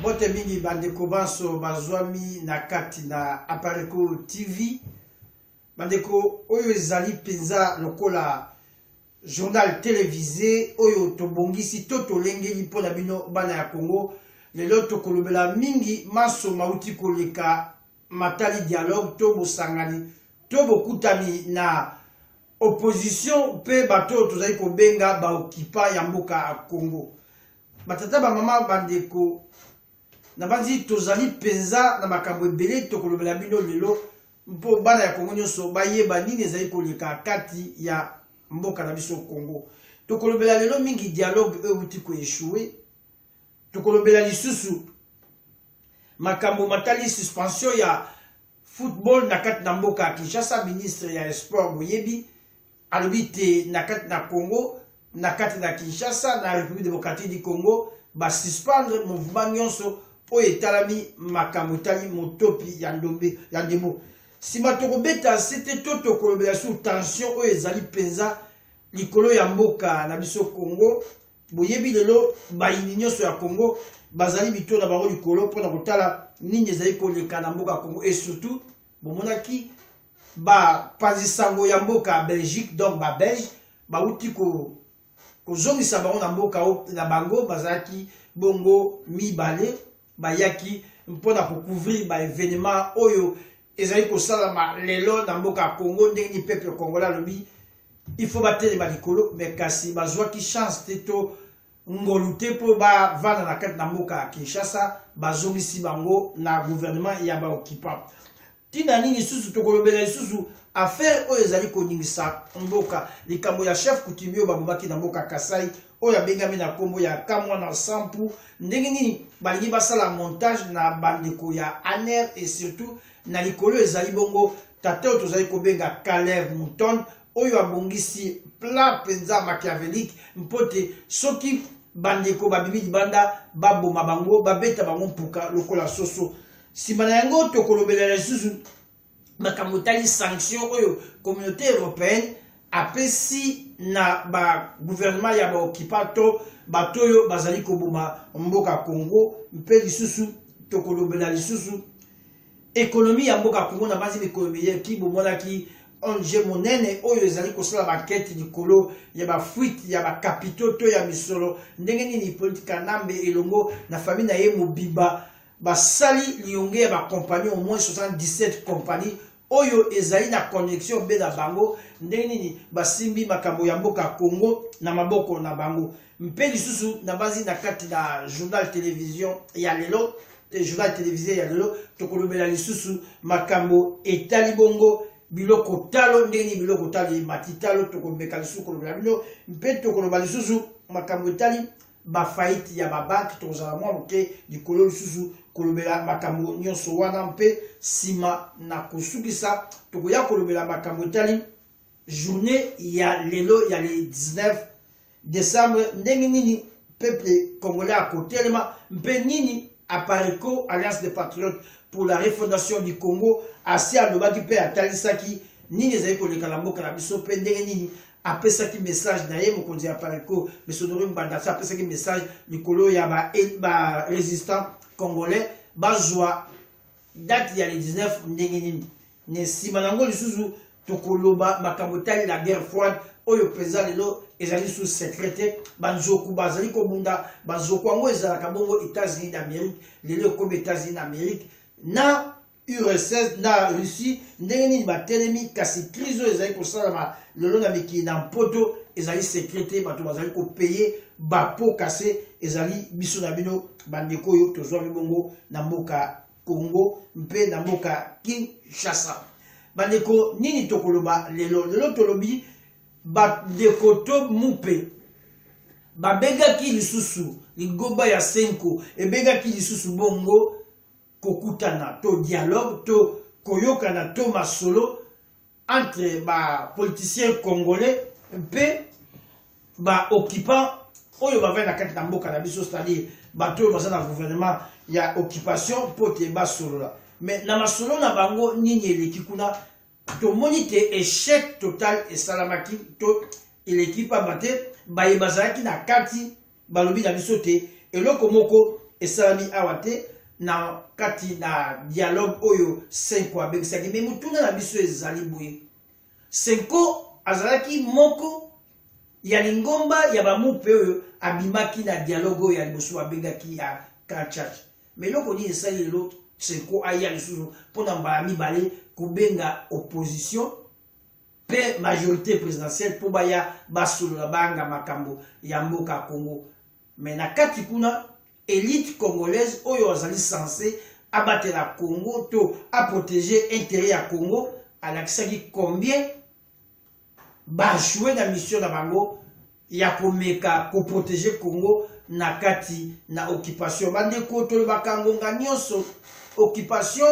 mbote mingi bandeko banso bazwami na kati na apareco tv bandeko oyo ezali mpenza lokola journal televise oyo tobongisi to tolengeli mpo na bino bana ya congo lelo tokolobela mingi manso mauti koleka matali dialogue to bosangani to bokutani na opposition mpe bato oyo tozali kobenga baokipa ya mboka ya Congo. Batata, bamama, bandeko, nabanzi tozali mpenza na makambo ebele tokolobela bino lelo mpo bana ya Congo nyonso bayeba nini ezali koleka kati ya mboka na biso Congo. Tokolobela lelo mingi dialogue oyo euti koeshue, tokolobela lisusu makambo matali suspension ya Football na kati na mboka ya Kinshasa, ministre ya Sport boyebi alobi te na kati na Congo, na kati na Kinshasa, na République démocratique du Congo, ba suspendre mouvement nyonso oyo etalami makambo etali motopi ya ndombe ya ndembo. Sima tokobeta sete to tokolobela sur tension oyo ezali mpenza likolo ya mboka na biso Congo Boyebi lelo bayini nyonso ya Congo bazali mito na bango likolo mpo na kotala nini ezali koleka na mboka Congo et surtout bomonaki bapanzi sango ya mboka Belgique donc ba Belge bauti ko kozongisa bango na mboka na bango bazalaki bongo mibale bayaki mpo na kocouvrir baevenema oyo ezali kosalama lelo na mboka ya congo ndenge nini peuple congolais alobi il faut batelema likolo me kasi bazwaki chance te to ngolu te mpo bavanda na kati na mboka ya kinshasa bazongisi bango na gouvernement ya baoccupant Tina nini lisusu tokolobela lisusu affaire oyo ezali koningisa mboka likambo ya chef coutumier oyo babomaki na mboka Kasai oyo abengami na nkombo ya Kamwana Nsampu. Ndenge nini balingi basala montage na bandeko ya ANR et surtout na likolo ezali bongo tata oyo tozali kobenga Caleb Mouton oyo abongisi plat mpenza machiavélique mpo te soki bandeko babimi libanda baboma bango babeta bango mpuka lokola soso Sima na yango tokolobela lisusu makambo etali sanction oyo communauté européenne apesi na baguvernema ya baokipa to bato oyo bazali koboma mboka Congo mpe lisusu tokolobela lisusu ekonomi ya mboka Congo na banzi mikolo miyeki bomonaki onje monene oyo ezali kosala bankete likolo ya bafuite ya bakapito to ya misolo ndenge nini politi kanambe elongo na fami na ye mobimba Basali liyonge ya ba compagnie au moins 77 compagnie oyo ezali na connexion be na bango ndenge nini basimbi makambo ya mboka Congo na maboko na bango mpe lisusu na bazi na kati na journal television ya lelo journal televisé ya lelo tokolobela lisusu makambo etali bongo biloko talo ndenge nini biloko talo emati talo tokomeka lisusu kolobela bino mpe tokoloba lisusu makambo etali ba faillite ya ba banque tokozala mwa moke likolo lisusu kolobela makambo nyonso wana mpe nsima na kosukisa tokoya kolobela makambo etali journée ya lelo ya le 19 décembre ndenge nini peuple congolais akotelema mpe nini apareco alliance des patriotes pour la refondation du congo asi alobaki mpe atalisaki nini ezali koleka na mboka na biso mpe ndenge nini apesaki message na ye mokonzi ya Pareco Mesodori Mbandasa apesaki message likolo ya ba, ba resistant congolais bazwa date ya le 19 ndenge nini na nsima na yango lisusu tokoloba makambo etali la guerre froide oyo mpenza lelo ezali sous secret te banzoku bazali kobunda banzoku yango ezalaka bongo états-unis d'amérique lelo ekomi états-unis d'amérique na URSS na Russie ndenge nini batelemi, kasi crise oyo ezali kosalama lelo na mikili na mpoto ezali secret te, bato bazali kopeye bapo kase, ezali biso na bino bandeko oyo tozwami bongo na mboka Congo mpe na mboka Kinshasa. Bandeko, nini tokoloba lelo? Lelo tolobi bandeko to mupe babengaki lisusu ligoba ya senko ebengaki lisusu bongo kokutana to dialogue to koyokana to masolo entre bapoliticien congolais mpe baoccupant oyo bavai na kati na mboka na biso c'est-à-dire bato oyo baza na gouvernement ya occupation mpo te basolola mais na masolo na bango nini eleki kuna tomoni te échec total esalamaki to eleki mpamba te baye bazalaki na kati Balobi na biso te eloko moko esalami awa te na kati na dialogue oyo Senko abengisaki. Me motuna na biso ezali boye, Senko azalaki moko ya lingomba ya bamupe oyo abimaki na dialogue oyo ya liboso babengaki ya Grand Church. Me eloko nini esali lelo Senko aya lisusu mpo na mbala mibale kobenga opposition pe majorite presidentielle po baya basolola banga makambo ya mboka Congo mais na kati kuna elite congolaise oyo azali sense abatela Congo to a proteger intérêt ya Congo alakisaki combien bajoue na mission na bango ya komeka koprotege congo na kati na occupation bandeko tolobaka ngonga nyonso occupation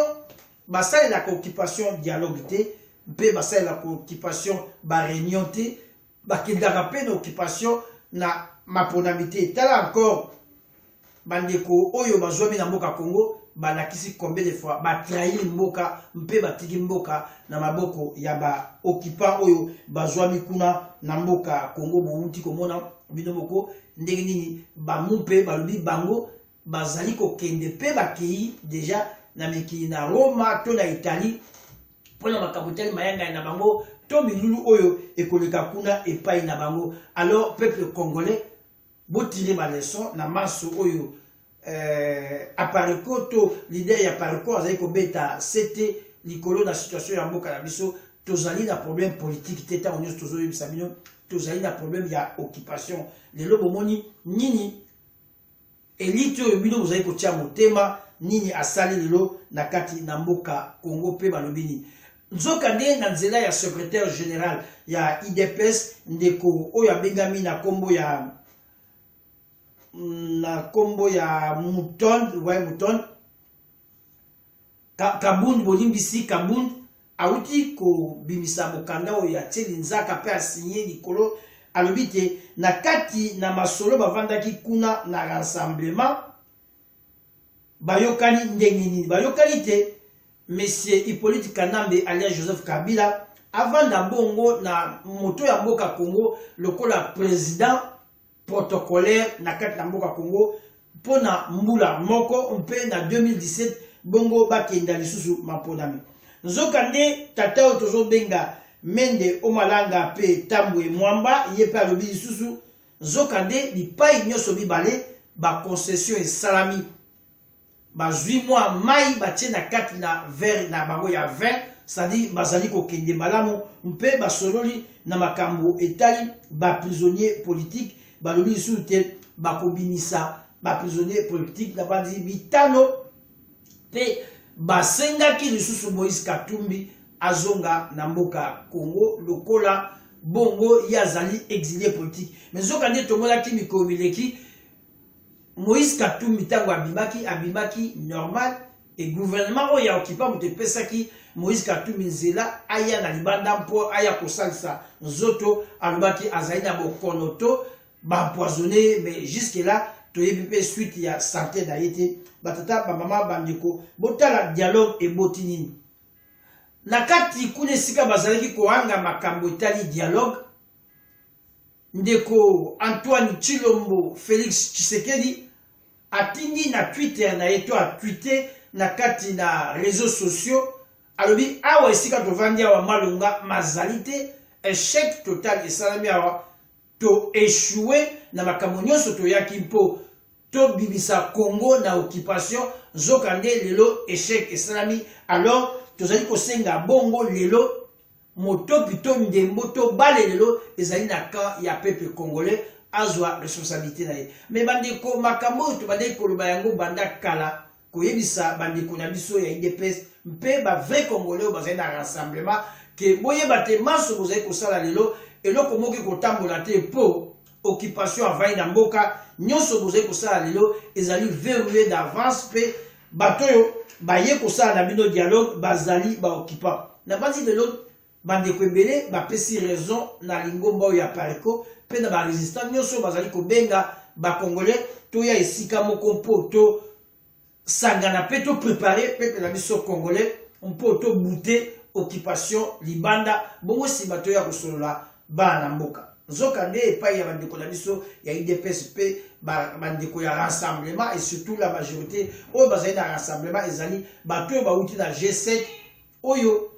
Basalelaka occupation dialogue te mpe basalelaka occupation ba reunion te bakendaka mpe na occupation na maponami te tala encore bandeko oyo bazwami na mboka congo balakisi combien de fois batrahir mboka mpe batiki mboka na maboko ya baoccupant oyo bazwami kuna na mboka congo bowuti komona bino moko ndenge nini bamu mpe balobi bango bazali kokende mpe bakei deja na mikili na Roma to na Italie mpo na makambo etali mayangani na bango to milulu oyo ekoleka kuna epai na bango. Alors peuple congolais, botire baleson na manso oyo eh, apareco to lider ya pareco azali kobeta sete likolo na situation ya mboka na biso tozali na problème politiki te ntango nyonso tozoyebisa bino tozali na problème ya occupation lelo bomoni nini Elite oyo bino bozali kotia motema nini asali lelo na kati na mboka Congo mpe balobi nini? Nzokande na nzela ya secretaire general ya IDPS ndeko oyo abengami na kombo ya mm, na kombo ya Mouton, ouais Mouton Ka, Kabund bolimbisi Kabund awuti kobimisa mokanda oyo atie linzaka mpe asinye likolo alobi te na kati na masolo bavandaki kuna na rassemblement bayokani ndenge nini bayokani te monsieur hippolyte kanambe alias joseph kabila avanda bongo na moto ya mboka congo lokola president protocolaire na kati na mboka Congo mpo na mbula moko mpe na 2017 bongo bakenda lisusu maponami nzokande tata oyo tozobenga mende omalanga mpe tambwe mwamba ye mpe alobi lisusu nzokande bipai nyonso mibale baconcession esalami bazwi mwa mai batye na kati na vere na bango ya vin sadi bazali kokende malamu mpe basololi na makambo etali baprisonnier politike balobi lisusu te bakobimisa baprisonnier politike na bandi bitano mpe basengaki lisusu moïse katumbi azonga na mboka congo lokola bongo ye azali exilie politike me nzoka nde tomonaki mikolo mileki Moïse Katumbi ntango abimaki abimaki normal e gouvernement oyo ya okipa moto epesaki Moïse Katumbi nzela aya na libanda mpo aya kosalisa nzoto alobaki azali na bokono to baempoisonne mais jusque là toyebi mpe suite ya sante na ye te batata bamama bandeko botala dialogue eboti nini na kati kuna esika bazalaki kohanga makambo etali dialogue Ndeko Antoine Tshilombo Felix Tshisekedi atindi na Twitter na ye to a tweete na kati na reseaux sociaux alobi awa esika tovandi awa malonga mazali te echec total esalami awa to echoue na makambo nyonso toyaki mpo tobimisa congo na occupation nzokande lelo echec esalami alors tozali kosenga bongo lelo Motoki to ndembo to bale lelo ezali na camp ya peuple congolais azwa responsabilité na ye. Mais bandeko makambo oyo tobandaki koloba yango banda kala koyebisa bandeko na biso ya IDPS mpe ba vrai congolais bazali na rassemblement ke boyeba te manso bozali kosala lelo eloko moki kotambola te mpo occupation avandi na mboka nyonso bozali kosala lelo ezali verrouille d'avance mpe bato oyo baye kosala na bino dialogue bazali baoccupant nabanzi lelo bandeko ebele bapesi raison na lingomba oyo ya pareco mpe na barésistant nyonso bazali kobenga bacongolais toya esika moko mpo to sangana pe to prepare peuple na biso congolais mpo to bute occupation libanda bongo nsima toya kosolola bana na mboka nzoka nde epai ya bandeko na biso ya idps mpe bandeko ya rassemblement et surtout la majorité oyo bazali na rassemblement ezali bato oyo bauti na g7 oyo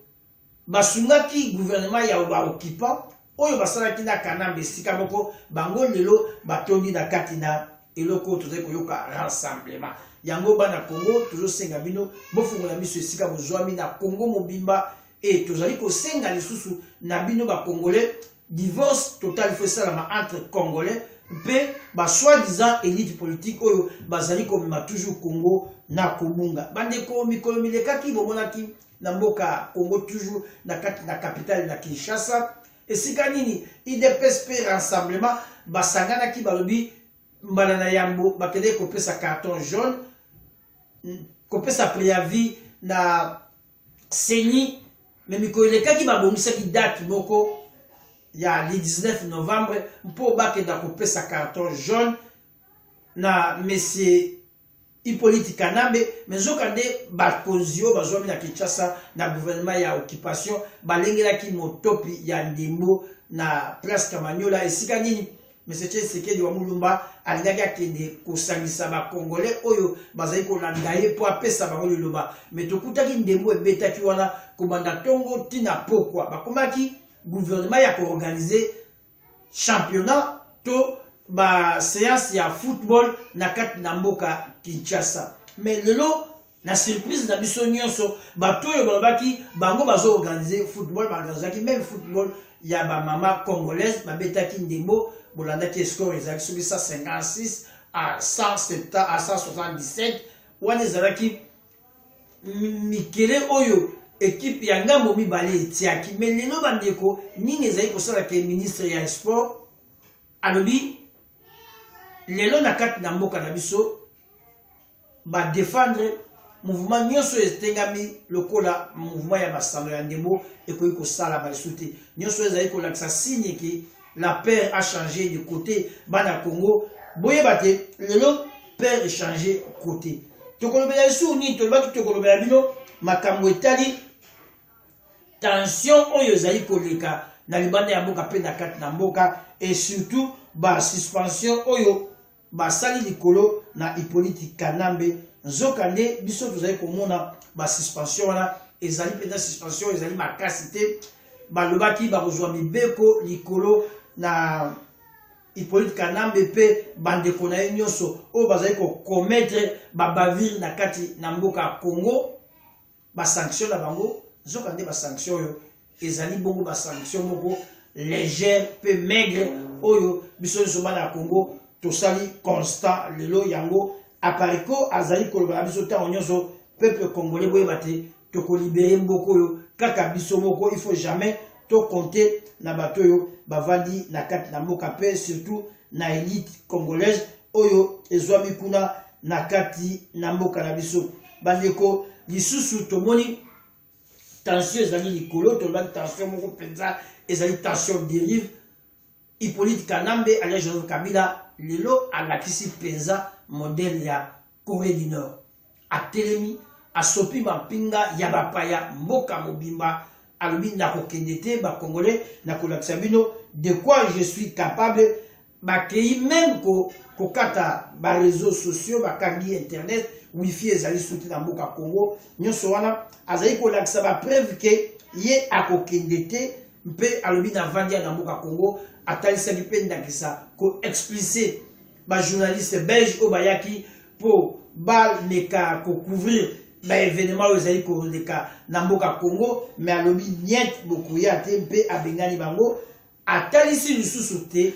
Basungaki gouvernement ya ba occupants oyo basalaki na Kanambe esika moko, bango lelo batondi na kati na eloko oyo tozali koyoka rassemblement. Yango bana Congo tozosenga bino bofongola miso esika bozwami na Congo mobimba et tozali kosenga lisusu na bino ba Congolais divorce total faut esalama entre Congolais mpe ba soi-disant elite politique oyo bazali komema toujours Congo na kobunga. Bandeko mikolo milekaki bomonaki na mboka Congo toujours na kati na capitale na Kinshasa esika nini idps mpe rassemblement basanganaki balobi mbala na yambo bakendeki kopesa carton jaune kopesa préavis na seni me mikolo elekaki babongisaki date moko ya le 19 novembre mpo bakenda kopesa carton jaune na monsieur Hypolite Kanambe, mais nzoka nde bakonzi oyo bazwami na Kinshasa na gouvernement ya occupation balengelaki motopi ya ndembo na place Kamanyola esika nini Monsieur Tshisekedi wa Mulumba alingaki akende kosangisa ba Congolais oyo bazali kolanda ye mpo apesa bango liloba mais tokutaki ndembo ebetaki wana kobanda tongo tina pokwa bakomaki gouvernement ya koorganize championnat to ba séance ya football na kati na mboka Kinshasa mais lelo na surprise na biso nyonso bato oyo balobaki bango bazo organise football baorganisaki même football ya bamama congolaise babetaki ndembo bolandaki escore ezalaki soki 156 à 170 à 177 wana ezalaki mikele oyo ekipe ya ngambo mibale etiaki me lelo bandeko nini ezali kosala ke ministre ya sport alobi lelo na kati na mboka na biso badefendre mouvement nyonso etengami lokola mouvement ya masano ya ndembo ekoki kosalama lisusu te nyonso ezali kolakisa signe ke la père a changé de côté bana congo boyeba te lelo père echange côté tokolobela lisusu nini tolobaki tokolobela bino makambo etali tension oyo ezali koleka na libanda ya mboka mpe na kati na mboka et surtout basuspension oyo basali likolo na Hyppolite Kanambe nzoka nde biso tozali komona ba suspension wana ezali mpenza suspension ezali makasi te balobaki bakozwa mibeko likolo na Hyppolite Kanambe mpe bandeko na ye nyonso oyo bazali kokometre babavire na kati na mboka Congo ba sanction na bango nzoka nde ba sanction oyo ezali bongo ba sanction moko légère mpe maigre oyo biso nyonso bana ya congo tosali constat lelo yango apareco azali koloba na biso ntango nyonso peuple congolais boyeba te tokolibere mboka oyo kaka biso moko il faut jamais tokonte na bato oyo bavandi na kati na mboka mpe surtout na elite congolaise oyo ezwami kuna na kati na mboka na biso bandeko lisusu tomoni tension ezali likolo tolobaki tension moko mpenza ezali tension derive hippolyte kanambe alia joseph kabila lelo alakisi mpenza modele ya corée du nord atelemi asopi mampinga ya bapaya mboka mobimba alobi nakokende te bakongole nakolakisa bino de quoi je suis capable Bakeyi meme ko kokata ba reseaux sociaux bakangi internet wifi ezali suki na mboka Congo nyonso wana azali kolakisa ba preuve ke ye akokende te mpe alobi na vandi ya na mboka Congo atalisaki mpe ndakisa ko explice ba journaliste belge oyo bayaki mpo baleka kocouvrir baevenema oyo ezali koleka na mboka Congo me alobi niet bokoya te mpe abengani bango Atalisi lisusu te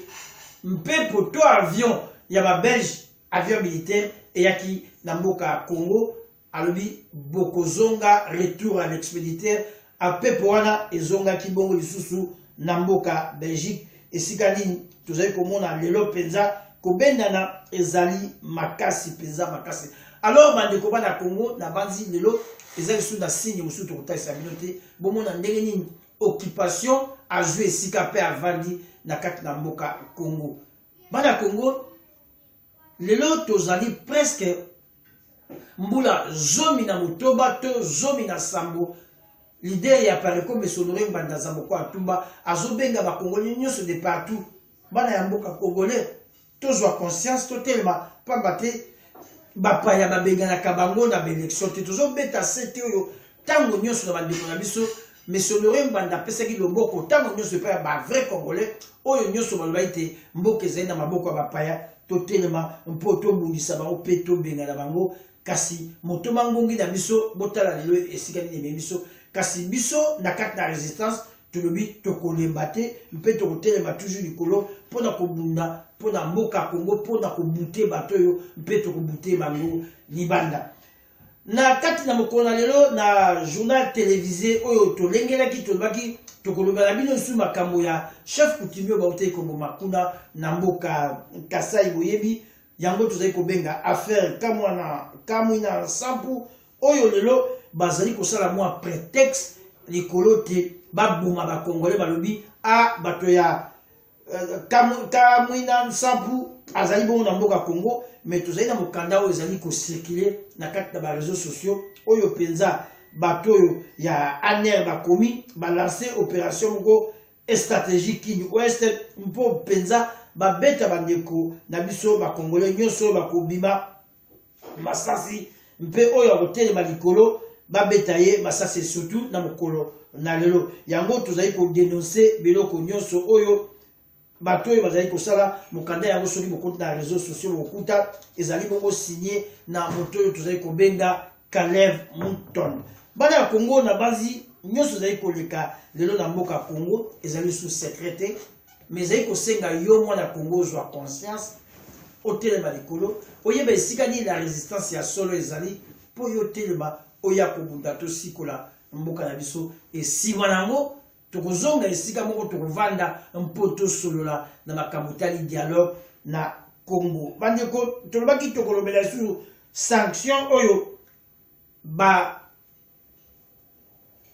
mpepo to avion ya ba belge avion militaire eyaki na mboka ya Congo alobi bokozonga retour à l'expéditeur mpepo wana ezongaki bongo lisusu na mboka Belgique esika nini tozali komona lelo mpenza kobendana ezali makasi mpenza makasi alors bandeko bana Congo nabanzi lelo eza lisusu na signe mosusu tokotalisa bino te bomona ndenge nini occupation azwi esika mpe avandi na kati na mboka Congo. Bana Congo lelo tozali presque mbula zomi na motoba to zomi na sambo lider ya pareco mesonore ngbanda zamboko atumba azobenga bakongoli nyonso de partout bana ya mboka congolais tozwa conscience totelema mpamba te bapaya babenganaka bango na baelektio te tozobeta sete oyo ntango nyonso na bandeko na biso mesonore mbanda apesaki loboko ntango nyonso epai ya bavrai congolais oyo nyonso balobaki te mboka ezali na maboko ya bapaya totelema mpo tobundisa bango mpe tobengana bango kasi moto mangungi na biso botala lelo esika nini ememi biso kasi biso na kati na resistance tolobi tokolemba te mpe tokotelema toujours likolo mpo na kobunda mpo na mboka ya kongo mpo na kobute bato oyo mpe tokobute bango libanda na kati na mokolo na lelo na journal televise oyo tolengelaki tolobaki tokoloba na bino lisusu makambo ya chef coutumier bautaki koboma kuna na mboka kasai boyebi yango tozali kobenga affaire kamwana kamwina nsampu oyo lelo bazali kosala mwa pretexte likolo te baboma bakongole balobi a ah, bato ya euh, kamwina nsampu azali bongo na mboka congo me tozali na mokanda oyo ezali kocirkule na kati na bareseau sociaux oyo mpenza bato oyo ya aner bakomi balanse opération moko stratégie kini ouest mpo mpenza babeta bandeko na biso bakongole nyonso oyo bakobima masasi mpe oyo akotelema likolo babeta ye masasi esutu na mokolo na lelo yango tozali kodenonse biloko nyonso oyo bato oyo bazali kosala mokanda yango soki bokoti na réseau sociaux bokuta ezali bongo signe na moto oyo tozali kobenga Caleb Mouton bana ya Congo na bazi nyonso ezali koleka lelo na mboka Congo ezali sous secret te mais ezali kosenga yo mwana ya congo ozwa conscience otelema likolo oyeba esika nini na resistance ya solo ezali mpo yo otelema oya kobunda tosikola mboka na biso esima na yango tokozonga esika moko tokovanda mpo tosolola na makambo etali dialogue na congo bandeko tolobaki tokolobela lisusu sanction oyo ba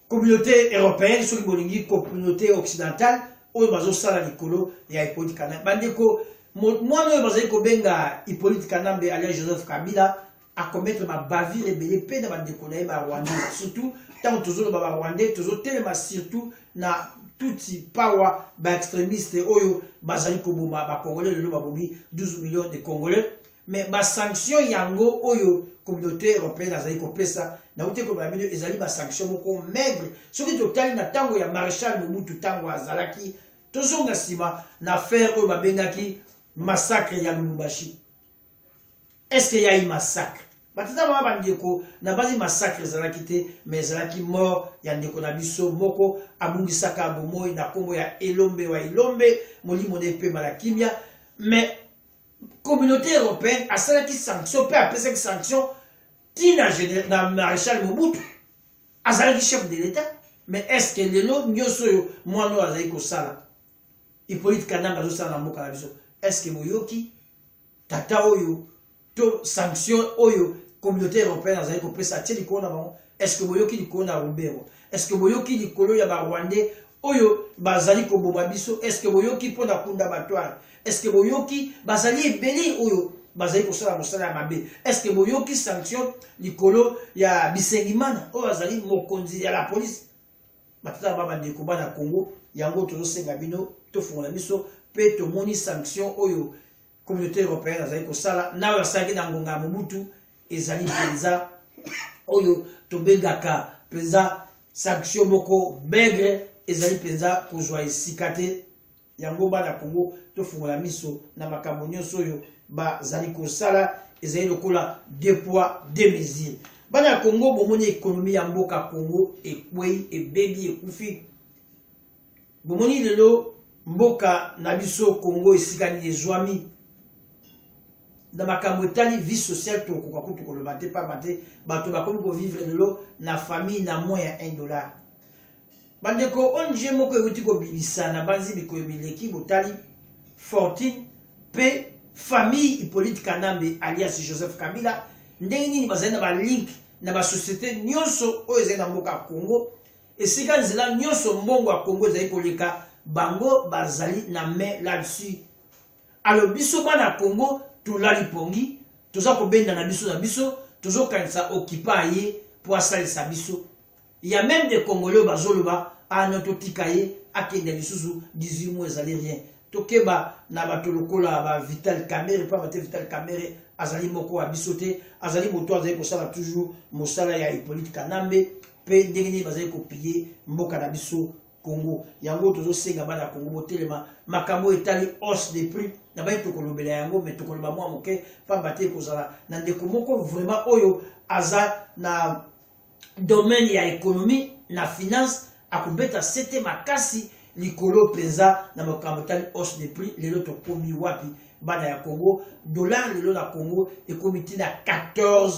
communauté européenne soki bolingi communauté occidentale oyo bazosala likolo ya hippolyte kanambe bandeko mwana oyo bazali kobenga hippolyte kanambe alia joseph kabila akometre babavire ebele mpe na bandeko na ye barwandais surtout ntango tozoloba barwandais tozotelema surtout na tutsi pawa baextremiste oyo bazali koboma bacongolais lelo babomi 12 millions de congolais Mais ba sanctions yango oyo communauté européenne azali kopesa nauti koloba bino ezali ba sanctions moko maigre soki totali na ntango ya maréchal mobutu ntango azalaki tozonga nsima na affaire oyo babengaki massacre ya lubumbashi est ce que yai massacre batata bana bandeko nabanzi massacre ezalaki te mais ezalaki mort ya ndeko na biso moko abungisaka bomoi na nkombo ya elombe wa elombe molimo na epema na kimia mais Communauté européenne asalaki sanction mpe apesaki sanction ti na, na maréchal Mobutu azalaki chef de l'État mais est-ce que lelo nyonso oyo mwana oyo azali kosala Hippolyte Kananga azosala na mboka na biso est-ce que boyoki tata oyo to sanction oyo communauté européenne azali kopesa atie likolo na bango est-ce que boyoki likolo na Ruberwa Est-ce que boyoki likolo ya ba Rwandais oyo bazali koboma biso? Est-ce que boyoki mpo na kunda batware? Est-ce que boyoki bazali ebele oyo bazali kosala mosala ya mabe estce boyoki sanction likolo ya bisengimana oyo azali mokonzi ya la polise matata ba bandeko bana congo yango tozosenga bino tofungola miso mpe tomoni sanction oyo communauté européenne azali kosala na oyo asalaki na ngonga ya mobutu ezali mpenza oyo tobengaka mpenza sanction moko maigre ezali mpenza kozwa esika te yango bana kongo tofungola miso na makambo nyonso oyo bazali kosala ezali lokola de poids de mesure bana ya kongo bomoni ekonomi ya mboka kongo ekwei ebebi ekufi Bomoni lelo mboka na biso Congo esika nini ezwami na makambo etali vie sociale tokoka kutu koloba te pamba te bato bakomi kovivre lelo na famille na moins ya 1 dollar bandeko ong moko euti kobimisa na banzi mikolo mileki botali fortune mpe famille hippolyte kanambe alias joseph kabila ndenge nini bazali na balink na basociété nyonso oyo ezali na mboka ya congo Esika nzela nyoso mbongo ya Congo ezali koleka, bango bazali na main là dessus. Alors biso bana Congo tolali pongi, toza kobenda na biso na biso, tozo kanisa occupa aye po asalisa biso. Ya meme de Congolais bazoloba ah non totika ye akende lisusu 18 mois ezali rien. Tokeba na bato lokola ba Vital Kamerhe pa bate Vital Kamerhe azali moko wa biso te, azali moto azali kosala toujours mosala ya Hippolyte Kanambe. mpe ndenge nini bazali kopille mboka na biso Congo. Yango tozosenga bana ya Congo botelema makambo etali hausse de prix na baye tokolobela yango me tokoloba mwa moke mpamba te ekozala na ndeko moko vraiment oyo aza na domaine ya ekonomi na finance akobeta sete makasi likolo mpenza na makambo etali hausse de prix lelo tokomi wapi bana ya Congo dollar lelo na Congo ekomi ntina 14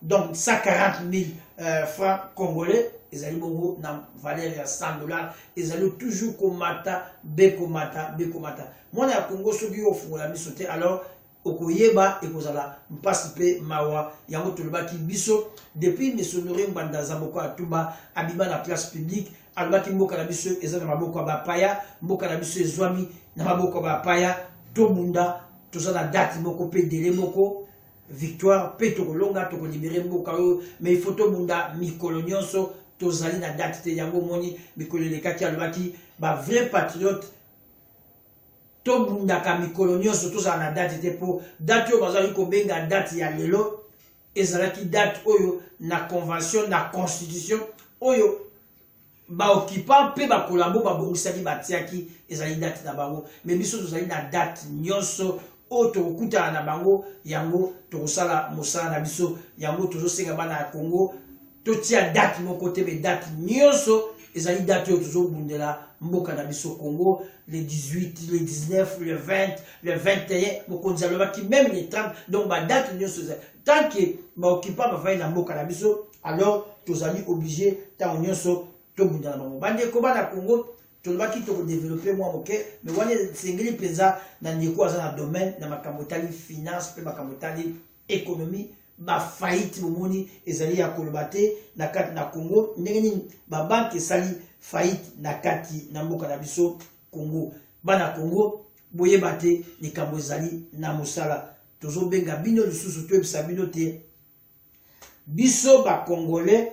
donc 140 000 euh, francs congolais ezali bongo na valeur ya 100 dollars ezali toujours komata bekomata bekomata mwana ya kongo soki yo ofungola miso te alors okoyeba ekozala mpasi mpe mawa yango tolobaki biso depuis misonore ngbanda zaboko atuba abima na place publique alobaki mboka na biso eza na maboko ya bapaya mboka na biso ezwami na maboko ya bapaya tobunda toza na date moko mpe dele moko victoire pe tokolonga tokolibere mboka oyo mais il faut tobunda mikolo nyonso tozali na date te yango omoni mikolo elekaki alobaki ba vrai patriote tobundaka mikolo nyonso tozala na date te mpo date oyo bazalaki kobenga date ya lelo ezalaki date oyo na convention na constitution oyo ba occupants mpe ba collabo babongisaki batiaki ezali date na bango me biso tozali na date nyonso oyo tokokutana na bango yango tokosala mosala na biso yango tozosenga bana ya congo totia date moko te me date nyonso ezali date oyo tozobundela mboka na biso congo le 18 le 19 le 20 le 21 mokonzi alobaki meme le 30 donc badate nyonso ezali tant que ba occupants bavandi na mboka na biso alors tozali oblige ntango nyonso tobunda na bango bandeko bana congo tolobaki tokodevelope mwa moke me wana esengeli mpenza na ndeko aza na domaine na makambo etali finance mpe makambo etali économie bafaillite bomoni ezali ya koloba te na kati na congo ndenge nini babanke esali faillite na kati na mboka na biso congo bana congo boyeba te likambo ezali na mosala tozobenga bino lisusu toyebisa bino te biso bacongolais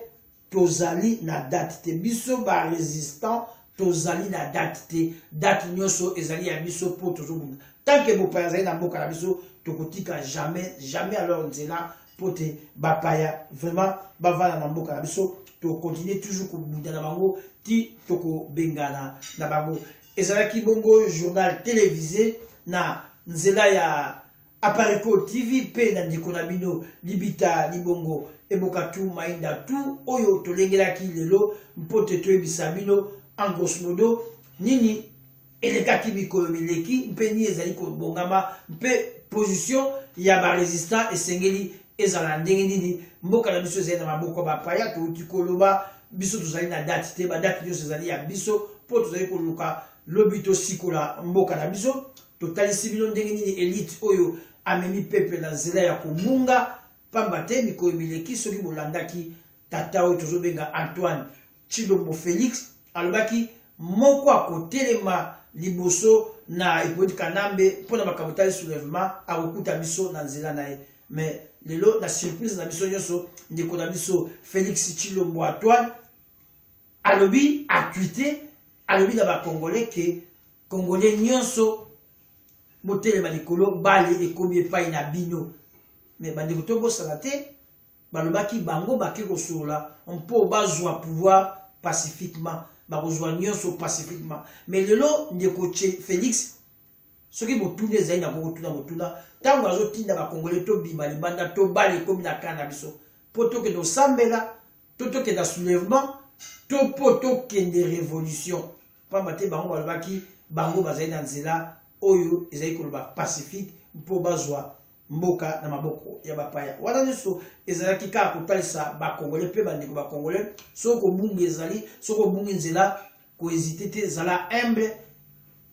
tozali na date te biso barésistant tozali na date te date nyonso ezali ya biso mpo tozobunda tanke bopaya azali na mboka na biso tokotika jamais jamais alors nzela mpo te bapaya vraiment bavanda na mboka na biso tokontinue toujours kobunda na bango ti tokobengana na bango Ezalaki bongo journal televise na nzela ya Apareco TV mpe na ndeko na bino Libita Libongo Eboka tu Mainda tu oyo tolengelaki lelo mpo te toyebisa bino en grosso modo nini elekaki mikolo mileki mpe nini ezali kobongama mpe position ya baresistant esengeli Ezala ndenge nini, mboka na biso ezali na maboko ya bapaya. Touti koloba, biso tozali na date te, badate nyonso ezali ya biso mpo tozali koluka lobi tosikola mboka na biso. Totalisi bino ndenge nini elite oyo amemi pepe na nzela ya kobunga, pamba te mikolo mileki, soki bolandaki tata oyo tozobenga Antoine Tshilombo Felix alobaki moko akotelema liboso na Hippolyte Kanambe mpo na makambo etali soulèvement akokuta biso na nzela na ye mais lelo na surprise na biso nyonso ndeko na biso Felix Tshilombo Antoine alobi atwite alobi na bacongolais ke congolais nyonso botelema likolo bale ekomi epai na bino me bandeko tobosana te Balobaki bango bake kosolola mpo bazua pouvoir pacifiquement. Bakozua nionso pacifiquement. Mais lelo ndeko Felix soki motuna ezali na boko tuna motuna ntango azotinda bakongole tobima libanda tobala ekomi na kaa na biso mpo tokende kosambela to tokende na soulèvement to mpo tokende révolution mpamba te bango balobaki bango bazali na nzela oyo ezali koloba pacifique mpo bazwa mboka na maboko ya bapaya wana nyonso ezalaki kaka kotalisa bakongole mpe bandeko bakongole soki kobungi ezali soki obungi nzela koezite te zala humble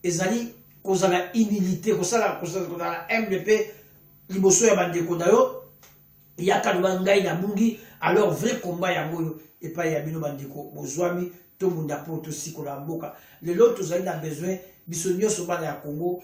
ezali kozala humilité kosala kozala humble mpe liboso ya bandeko na yo yaka loba ngai nabungi alors vrai combat yango oyo epai ya bino bandeko bozwami tobunda mpo tosikola mboka lelo tozali na besoin biso nyonso bana ya congo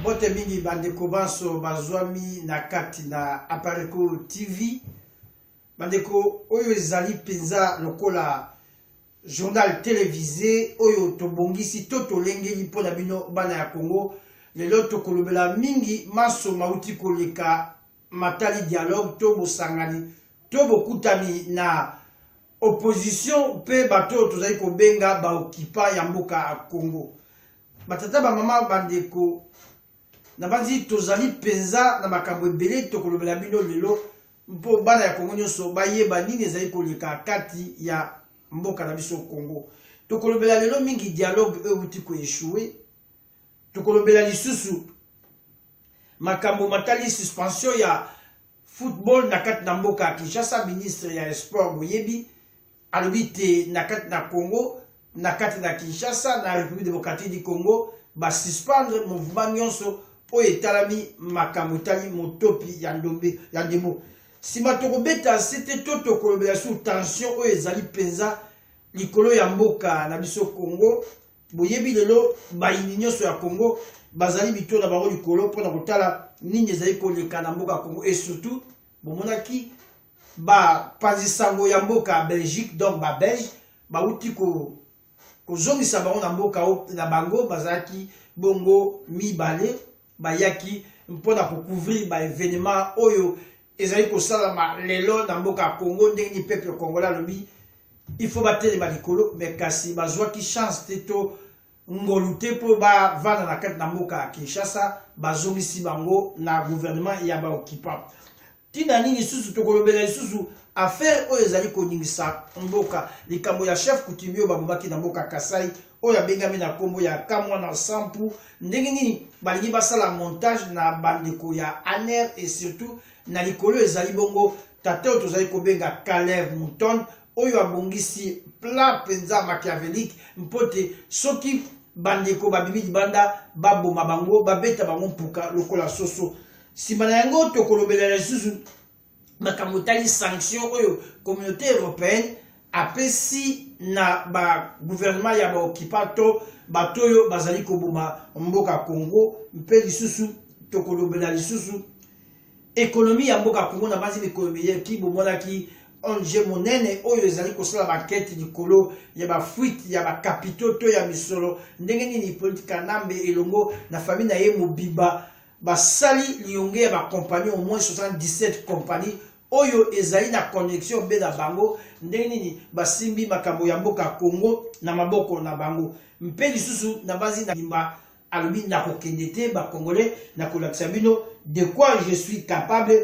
mbote mingi bandeko banso bazwami na kati na apareco tv bandeko oyo ezali mpenza lokola journal televise oyo tobongisi to tolengeli mpo na bino bana ya congo lelo tokolobela mingi manso mauti koleka matali dialogue to bosangani to bokutani na opposition mpe bato oyo tozali kobenga baokipa ya mboka ya Congo. Batata, bamama, bandeko, nabanzi tozali mpenza na makambo ebele tokolobela bino lelo mpo bana ya Congo nyonso bayeba nini ezali koleka kati ya mboka na biso Congo. Tokolobela lelo mingi dialogue oyo euti koeshue, tokolobela lisusu makambo matali suspension ya Football na kati na mboka ya Kinshasa, ministre ya Sport boyebi alobi te na kati na Congo, na kati na Kinshasa, na République démocratique du Congo, ba suspendre mouvement nyonso oyo etalami makambo etali motopi ya ndombe ya ndembo. Sima tokobeta sete to tokolobela sur tension oyo ezali mpenza likolo ya mboka na biso Congo Boyebi lelo bayini nyonso ya Congo bazali bito na bango likolo mpo na kotala nini ezali koleka na mboka Congo et surtout bomonaki bapanzi sango ya mboka Belgique donc ba Belge bauti ko kozongisa bango na mboka na bango bazalaki bongo mibale bayaki mpo na kocouvrir baevenema oyo ezali kosalama lelo na mboka ya congo ndenge nini peuple congolais alobi il faut batelema likolo me kasi bazwaki chance te to ngolu te mpo bavanda na kati na mboka ya kinshasa bazongisi bango na gouvernement ya baoccupant Tina nini lisusu tokolobela lisusu affaire oyo ezali koningisa mboka likambo ya chef coutumier oyo babomaki na mboka Kasai oyo abengami na nkombo ya kamwa na sampu ndenge nini balingi basala montage na bandeko ya aner et surtout na likolo ezali bongo tata oyo tozali kobenga Kalev Mouton oyo abongisi plat mpenza machiavelike mpo te soki bandeko babimi libanda baboma bango babeta bango mpuka lokola soso Nsima na yango, tokolobela lisusu makambo etali sanction oyo communauté européenne apesi na baguvernema ya baokipa to bato oyo bazali koboma mboka Congo mpe lisusu tokolobela lisusu ekonomi ya mboka Congo na banzi mikolo miyeki bomonaki ONG monene oyo ezali kosala bankete likolo ya bafuite ya bakapito to ya misolo ndenge nini Hippolyte Kanambe elongo na famille na ye mobimba Basali liyonge ya ba compagnies au moins 77 compagnies oyo ezali na connexion be na bango ndenge nini basimbi makambo ya mboka Congo na maboko na bango mpe lisusu na bazi na limba alobi nakokende te ba congolais nakolakisa bino de quoi je suis capable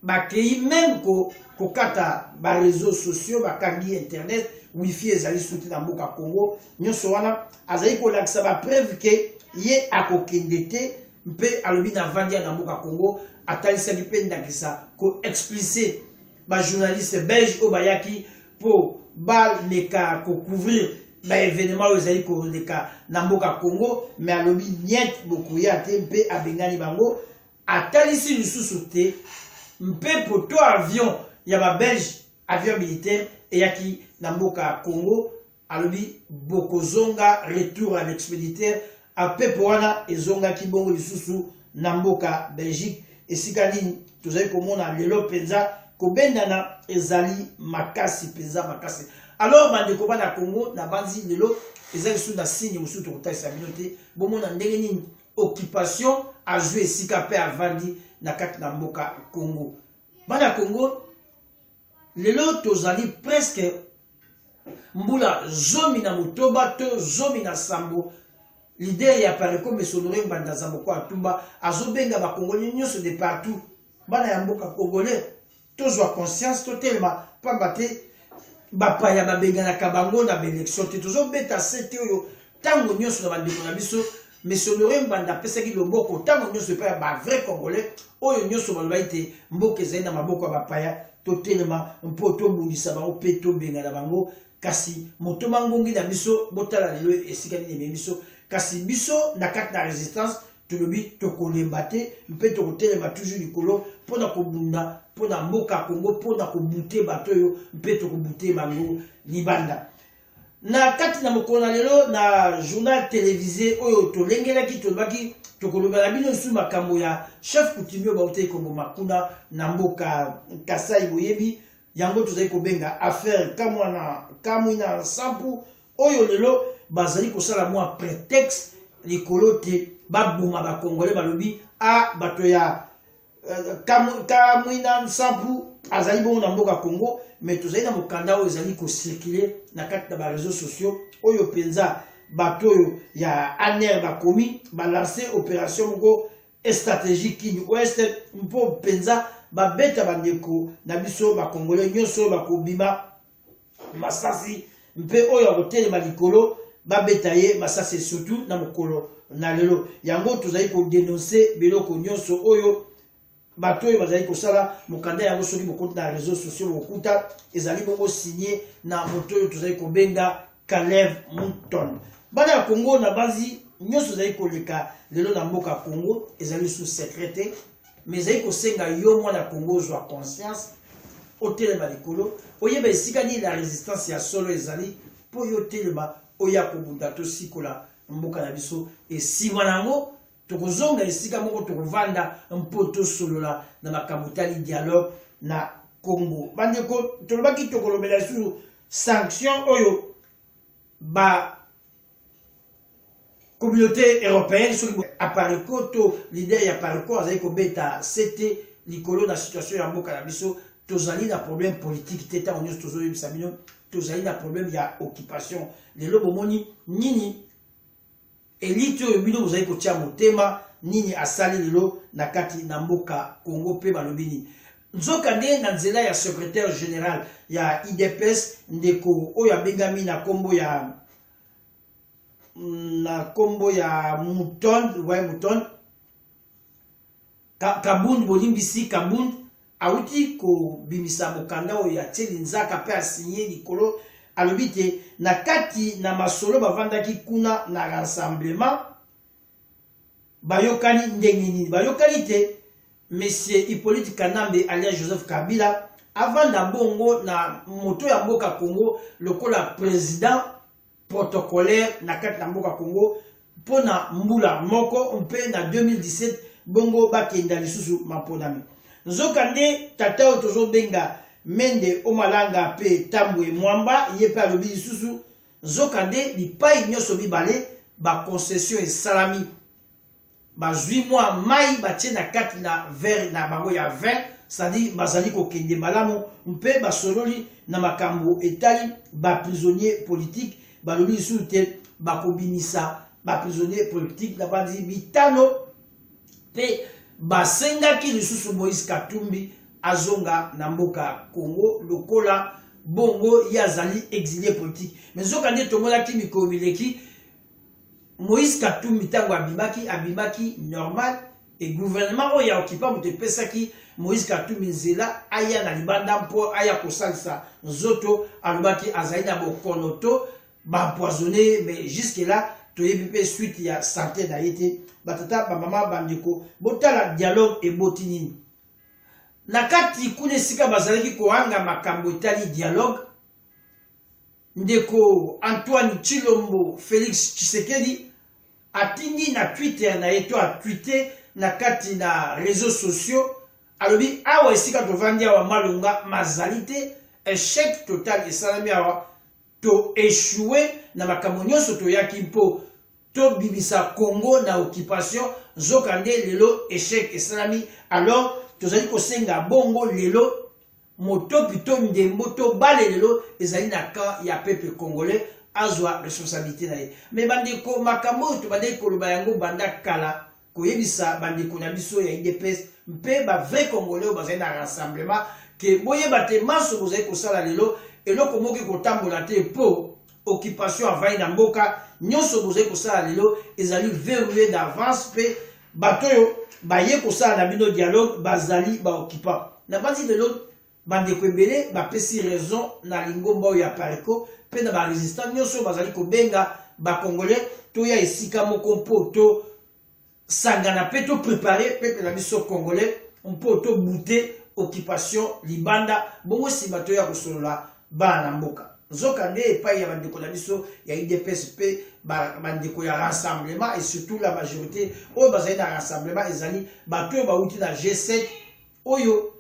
Bakeyi meme ko kokata ba reseaux sociaux bakangi internet wifi ezali suki na mboka Congo nyonso wana azali kolakisa ba preuve ke ye akokende te mpe alobi na vandia na mboka Congo atalisaki mpe ndakisa ko explice ba journaliste belge oyo bayaki mpo baleka kocouvrir baevenema oyo ezali koleka na mboka Congo me alobi niet bokoya te mpe abengani bango atalisi lisusu te mpepo to avion ya ba belge avion militaire eyaki na mboka ya congo alobi bokozonga retour à l'expéditaire mpepo wana ezongaki bongo lisusu na mboka belgique esika nini tozali komona lelo mpenza kobendana ezali makasi mpenza makasi alors bandeko bana congo nabanzi lelo eza lisusu na signe mosusu tokotalisa bino te bomona ndenge nini occupation azwi esika mpe avandi na kati na mboka Congo. Bana ya Congo lelo tozali presque mbula zomi na motoba to zomi na sambo lider ya pareco mesonore ngbanda zamboko atumba azobenga bakongole nyonso de partout bana ya mboka congolais tozwa conscience totelema mpamba te bapaya babenganaka bango na baelektio te tozobeta sete oyo ntango nyonso na bandeko na biso mesonore mbanda apesaki loboko ntango nyonso epai ya bavrai congolais oyo nyonso balobaki te mboka ezali na maboko ya bapaya totelema mpo tobundisa bango mpe tobengana bango kasi motoma ngungi na biso botala lelo esika nini ememi biso kasi biso na kati na resistance tolobi tokolemba te mpe tokotelema toujours likolo mpo na kobunda mpo na mboka ya kongo mpo na kobute bato oyo mpe tokobute bango libanda na kati na mokolo na lelo na journal televise oyo tolengelaki tolobaki tokolobela bino lisusu makambo ya chef coutumier bautei koboma kuna na mboka kasai boyebi yango tozali kobenga affaire kamwana kamwina nsampu oyo lelo bazali kosala mwa prétexte likolo te baboma bakongole balobi a bato ya euh, kamwina nsampu azali bongo na mboka congo mais tozali na mokanda oyo ezali kocircule na kati na bareseau sociaux oyo mpenza bato oyo ya aner bakomi balanse opération moko strategie kin ouest mpo mpenza babeta bandeko na biso bakongole nyonso oyo bakobima masasi mpe oyo akotelema likolo babeta ye masasi surtout na mokolo na lelo yango tozali kodenonse biloko nyonso oyo bato oyo bazali kosala mokanda yango soki bokoti na réseau sociaux bokuta ezali bongo signe na moto oyo tozali kobenga Kalev Mouton. Bana ya Congo na bazi nyonso ezali koleka lelo na mboka Congo ezali sous secret te mais ezali kosenga yo mwana Congo ozwa conscience otelema likolo oyeba esika nini na resistance ya solo ezali mpo yo otelema oya kobunda tosikola mboka na biso nsima na yango Tokozonga esika moko tokovanda mpo tosolola na makambo tali dialogue na Congo. Bandeko, tolobaki tokolobela lisusu sanction oyo ba communauté européenne soki apareco to leader ya pareco azali kobeta sete likolo na situation ya mboka na biso tozali na problème politique te ntango nyonso tozoyebisa bino tozali na problème ya occupation lelo bomoni nini Elite oyo bino bozali kotia motema nini asali lelo na kati na mboka Congo pe balobi nini? Nzokande na nzela ya secretaire general ya IDPS ndeko oyo abengami na kombo ya na kombo ya Mouton, ouais Mouton Ka, Kabund bolimbisi Kabund awuti kobimisa mokanda oyo atie linzaka mpe asinye likolo alobi te na kati na masolo bavandaki kuna na rassemblement bayokani ndenge nini bayokani te monsieur hippolyte kanambe alias joseph kabila avanda bongo na moto ya mboka congo lokola president protocolaire na kati na mboka Congo mpo na mbula moko mpe na 2017 bongo bakenda lisusu maponami. Nzoka nde tata oyo tozobenga Mende Omalanga mpe Tambwe Mwamba ye mpe alobi lisusu nzoka nde bipai nyonso mibale baconcession esalami bazwi mwa mai batye na kati na vere na bango ya vin sadi bazali kokende malamu mpe basololi na makambo etali baprisonnier politike balobi lisusu te bakobimisa baprisonnier politike na bandi bitano mpe basengaki lisusu moïse katumbi azonga na mboka congo lokola bongo ye azali exilie politike me nzoka nde tomonaki mikolo mileki Moïse Katumbi ntango abimaki abimaki normal e gouvernement oyo ya okipa moto epesaki Moïse Katumbi nzela aya na libanda mpo aya kosalisa nzoto alobaki azali na bokono to baempoisonne mais jusque là toyebi mpe suite ya sante na ye te batata bamama bandeko botala dialogue eboti nini na kati kuna esika bazalaki kohanga makambo etali dialogue Ndeko Antoine Tshilombo Felix Tshisekedi atindi na Twitter na ye to a tweete na kati na reseaux sociaux alobi awa esika tovandi awa malonga mazali te echec total esalami awa to echoue na makambo nyonso toyaki mpo tobimisa congo na occupation nzoka nde lelo echec esalami alors tozali kosenga bongo lelo Motopi to ndembo to bale lelo ezali na camp ya peuple congolais azwa responsabilité na ye. Mais bandeko makambo oyo tobandaki koloba yango banda kala koyebisa bandeko na biso ya IDPS mpe ba vrai congolais oyo bazali na rassemblement ke boyeba te manso bozali kosala lelo eloko moko ekotambola te mpo occupation avai na mboka nyonso bozali kosala lelo ezali verrouille d'avance mpe bato oyo baye kosala na bino dialogue bazali baoccupant nabanzi lelo bandeko ebele bapesi raison na lingomba oyo ya pareco mpe na barésistant nyonso bazali kobenga bacongolais toya esika moko mpo to sangana pe to prepare peuple na biso congolais mpo to bute occupation libanda bongo sima toya kosolola bana na mboka nzoka nde epai ya bandeko na biso ya idps mpe bandeko ya rassemblement et surtout la majorité oyo bazali na rassemblement ezali bato oyo bauti na g7 oyo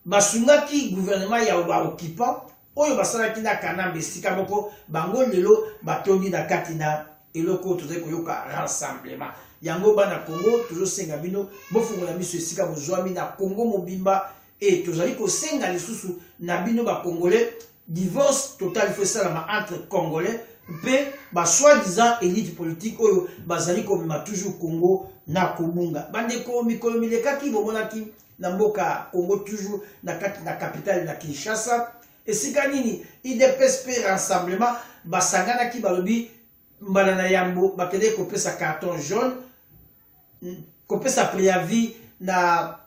Basungaki gouvernement ya ba occupants oyo basalaki na Kanambe esika moko, bango lelo batondi na kati na eloko oyo tozali koyoka rassemblement. Yango bana Congo tozosenga bino bofongola miso esika bozwami na Congo mobimba et tozali kosenga lisusu na bino ba Congolais divorce total il faut esalama entre Congolais mpe ba soi-disant elite politique oyo bazali komema toujours Congo na kobunga. Bandeko mikolo milekaki bomonaki na mboka Congo toujours na kati na capitale na Kinshasa esika nini idps mpe rassemblement basanganaki balobi mbala na yambo bakendeki kopesa carton jaune kopesa préavis na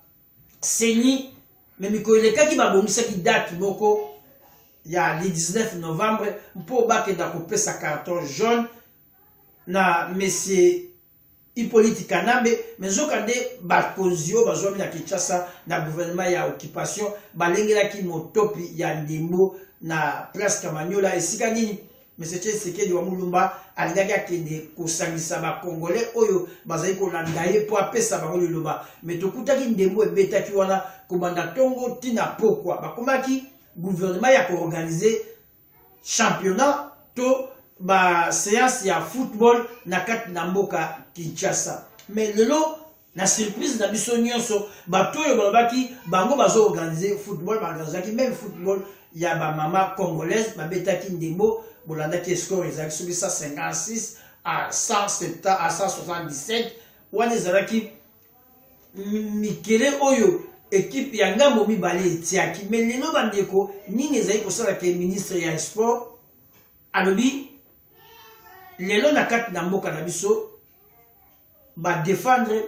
seni me mikolo elekaki babongisaki date moko ya le 19 novembre mpo bakenda kopesa carton jaune na monsieur Hyppolite Kanambe, mais nzokande bakonzi oyo bazwami na Kinshasa na gouvernement ya occupation balengelaki motopi ya ndembo na place Kamanyola esika nini Monsieur Tshisekedi wa Mulumba alingaki akende kosangisa ba Congolais oyo bazali kolanda ye mpo apesa bango liloba mais tokutaki ndembo ebetaki wana kobanda tongo tina pokwa bakomaki gouvernement ya koorganize championnat to ba séance ya football na kati na mboka Kinshasa mais lelo na surprise na biso nyonso bato oyo balobaki bango bazo organise football baorganisaki meme football ya bamama congolaise babetaki ndembo bolandaki escore ezalaki soki 156 à 170 à 177 wana ezalaki mikele oyo ekipe ya ngambo mibale etiaki me lelo bandeko nini ezali kosala ke ministre ya sport alobi lelo na kati na mboka na biso badefendre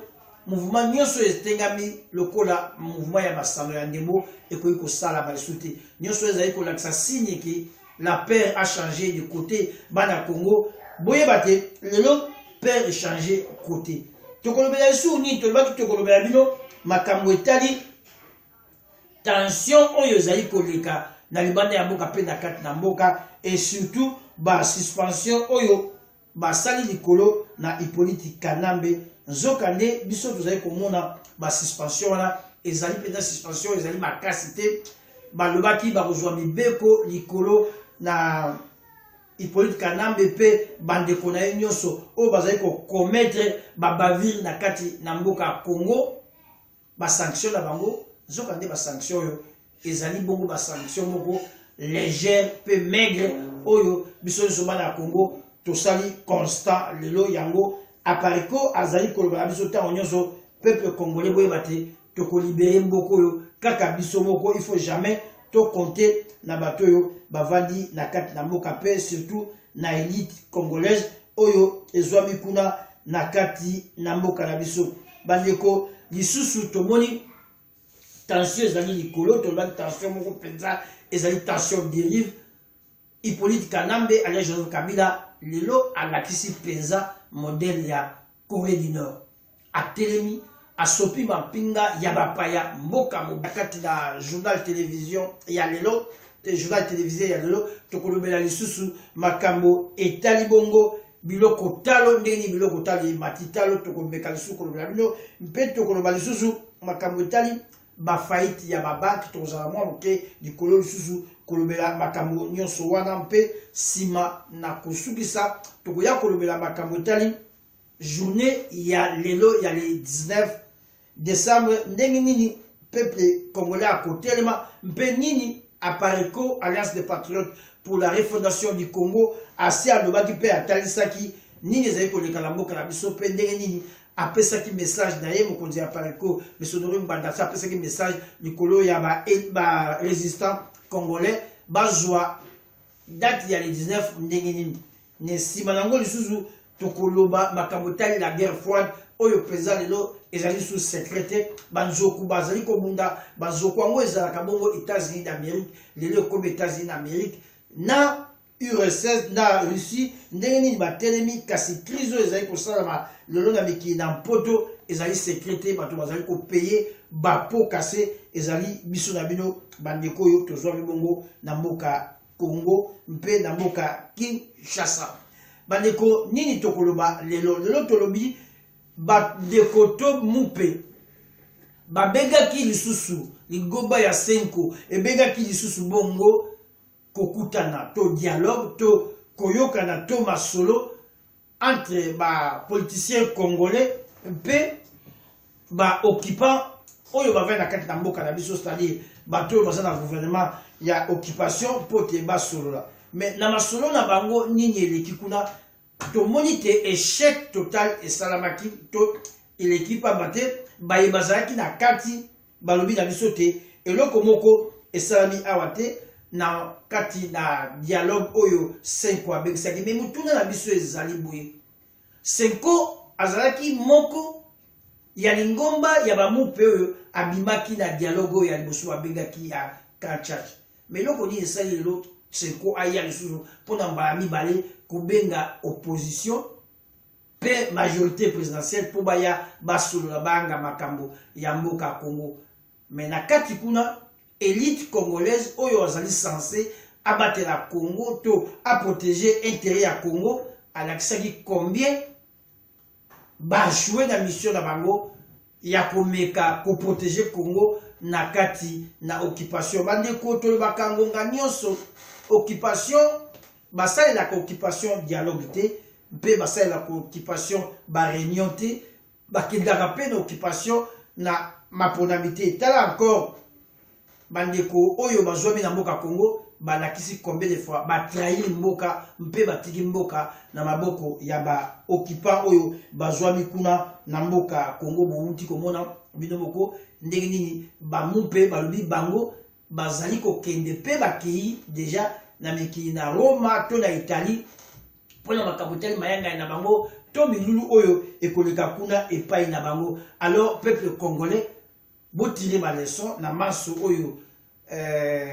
mouvement nyonso etengami lokola mouvement ya masano ya ndembo ekoki kosalama lisusu te nyonso ezali kolakisa signe ke la père a changé de côté bana congo boyeba te lelo père echange côté tokolobela lisusu nini tolobaki tokolobela bino makambo etali tension oyo ezali koleka na libanda ya mboka mpe na kati na mboka et surtout basuspension oyo basali likolo na Hyppolite Kanambe nzoka nde biso tozali komona ba suspension wana ezali mpenza suspension ezali makasi te balobaki bakozwa mibeko likolo na Hyppolite Kanambe mpe bandeko na ye nyonso oyo bazali kokometre babavire na kati na mboka Congo ba sanction na bango nzoka nde ba sanction oyo ezali bongo ba sanction moko légère mpe maigre oyo biso nyonso bana ya congo tosali constat lelo yango apariko azali koloba na biso ntango nyonso peuple congolais boyeba te tokolibere mboka oyo kaka biso moko il faut jamais tokonte na bato oyo bavandi na kati na mboka mpe surtout na elite congolaise oyo ezwami kuna na kati na mboka na biso bandeko lisusu tomoni tension ezali likolo tolobaki tension moko mpenza ezali tension derive hippolyte kanambe alia joseph kabila lelo alakisi mpenza modele ya corée du nord atelemi asopi mampinga ya bapaya mboka mobimba kati na journal television ya lelo te journal television ya lelo tokolobela lisusu makambo etali bongo biloko talo ndenge nini biloko talo emati talo tokomeka lisusu kolobela bino mpe tokoloba lisusu makambo etali bafaite ya babanke tokozala mwa moke likolo lisusu kolobela makambo nyonso wana mpe nsima na kosukisa tokoya kolobela makambo etali journée ya lelo ya le 19 décembre ndenge nini peuple congolais akotelema mpe nini apareco alliance des patriotes pour la refondation du congo asi alobaki mpe atalisaki nini ezali koleka na mboka na biso mpe ndenge nini apesaki message na ye mokonzi ya pareco misonori mbandasi apesaki message likolo ya barésistant ba congolais bazwa date ya le 19 ndenge nini Na nsima na yango lisusu tokoloba makambo etali la guerre froide oyo mpenza lelo ezali lisusu secret te banzoku bazali kobunda banzoku yango ezalaka bongo états-unis d'amérique lelo ekomi états-unis d'amérique na urss na russie ndenge nini batelemi kasi crise oyo ezali kosalama lelo na mikili na mpoto ezali secret te bato bazali kopeye bapo kase ezali biso na bino bandeko oyo tozwami bongo na mboka Congo mpe na mboka Kinshasa. Bandeko, nini tokoloba lelo? Lelo tolobi bandeko to mupe babengaki lisusu ligoba ya senko ebengaki lisusu bongo kokutana to dialogue to koyokana to masolo entre ba politiciens congolais mpe ba occupants oyo bavai na kati na mboka na biso c'est-à-dire bato oyo baza na gouvernement ya occupation mpo te basolola mais na masolo na bango nini eleki kuna tomoni te échec total esalamaki to eleki mpamba te baye bazalaki na kati Balobi na biso te eloko moko esalami awa te na kati na dialogue oyo Senko abengisaki. Me motuna na biso ezali boye, Senko azalaki moko ya lingomba ya bamupe oyo abimaki na dialogue oyo ya liboso babengaki ya Grand Church. Me eloko nini esali lelo Senko aya lisusu mpo na mbala mibale kobenga opposition pe majorite presidentielle mpo baya basolola banga makambo ya mboka Congo mais na kati kuna elite congolaise oyo azali sense abatela Congo to aproteger interet ya Congo alakisaki combien bajoue na mission na bango ya komeka ko proteger Congo na kati na occupation. Bandeko tolobaka ngonga nyonso occupation basalelaka occupation dialogue te mpe basalelaka occupation bareunion te bakendaka mpe na occupation na maponami te tala encore Bandeko oyo bazwami na mboka Congo balakisi combien de fois ba trahir mboka mpe batiki mboka na maboko ya ba occupants oyo bazwami kuna na mboka Congo. Bowuti komona bino moko ndenge nini bango mpe balobi bango bazali kokende mpe bakei deja na mikili na Roma to na Italie mpo na makambo etali mayangani na bango to milulu oyo ekoleka kuna epai na bango alors peuple congolais botire baleson na manso oyo eh...